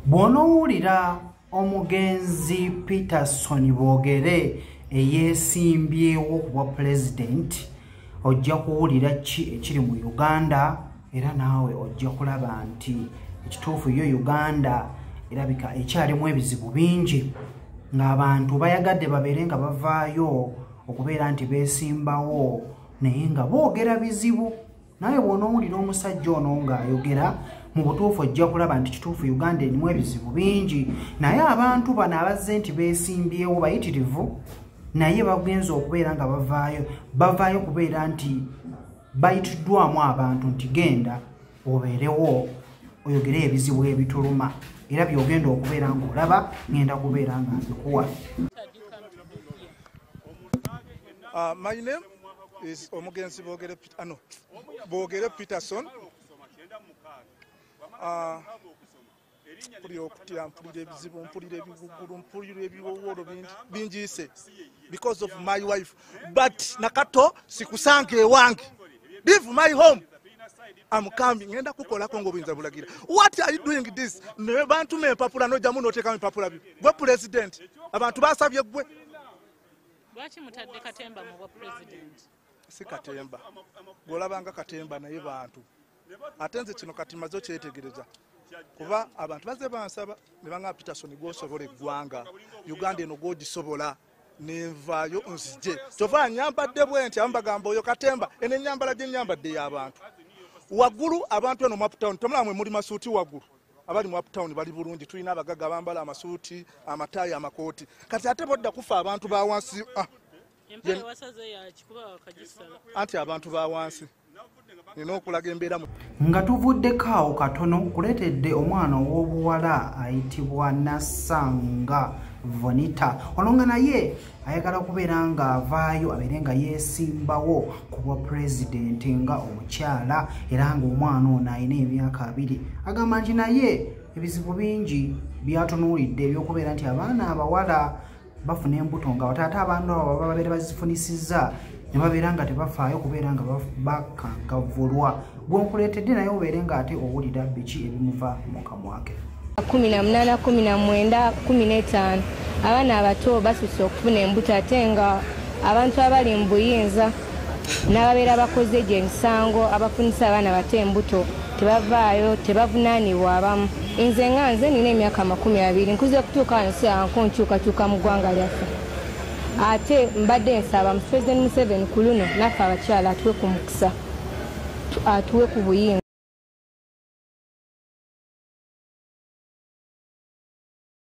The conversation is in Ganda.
bw'onoowulira omugenzi peterson boogere eyeesimbyewo ku bwa pulezidenti ojja kuwulira ki ekiri mu uganda era naawe ojja kulaba nti ekituufu yo uganda erabika ekyalimu ebizibu bingi ng'abantu bayagadde babeere nga bavaayo okubeera nti beesimbawo naye nga boogera bizibu naye bw'onoowulira omusajja ono ng'ayogera mu butuufu ojja kulaba nti kituufu uganda erimu ebizibu bingi naye abantu bano abazze nti beesimbyewo bayitirivu naye bagenza okubeera nga bavaayo bavaayo kubeera nti bayitiddwamu abantu nti genda obeerewo oyogere ebizibu ebituluma era byogenda okubeera ng'olaba ngenda kubeera nga mbikuwa uh, omugenzi bogere ano bogere peterson ah, mpulira okutya mpulira ebizibu mpulira ebigugulu mpulira ebiwowolo bingiise because of my wife but nakato sikusanga ewange leave my home amukambi ngenda kukolako ngaobuyinza bulagira what are you doing this naye bantuma empapula nojamu notekamu empapula byo gwe president abantu basabye gwe lwaki mutadde katemba mubwa president si katemba bwolabanga katemba naye bantu ate nze kino kati maze okyetegereza kuba abantu baze bansaba nebanga peterson gwosobola eggwanga uganda eno gwogisobola nenvaayo nzije kyova nyambadde bwe nti abamu bagamba oyo katemba eno enyambala gyenyambadde y'abantu waggulu abantu eno maptown tomulaba mwe muli masuuti waggulu abali mu uptown bali bulungi tulina abagaga bambala amasuuti amataayi amakooti kati ate bodda kufa abantu bawansi ah. anti abantu ba wansi nina okulaga embeera nga tuvuddeko awo katono kuleetedde omwana ow'obuwala ayitibwa nassanga vonita ono nga naye ayagala kubeera nga avaayo abeere nga yeesimbawo ku bwa pulezidenti nga omukyala era ng'omwana ono alina emyaka abiri agamba nti naye ebizibu bingi byatunuulidde ebyokubeera nti abaana abawala bafuna embuto nga wataate abantu abo baba babeera bazifunisizza ne babeera nga tebafaayo kubeera nga bakangavulwa gwonkuleetedde naye obeere ng'ate owulira biki ebimuva mu kamwake kumi na munaana kumi na mwenda kumi n'etaano abaana abato basusse okufuna embuto ate nga abantu abali mu buyinza n'ababeera bakoze egyo emisango abafunisa abaana bato embuto tebavaayo tebavunaanibwa abamu nze nga nze nina emyaka amakumi abiri nkuze okutuuka wano sianko nkyukakyuka mu ggwanga lyaffe ate mbadde nsaba mu president museven ku luno naffe abakyala atuwe ku mukisa atuwe ku buyinza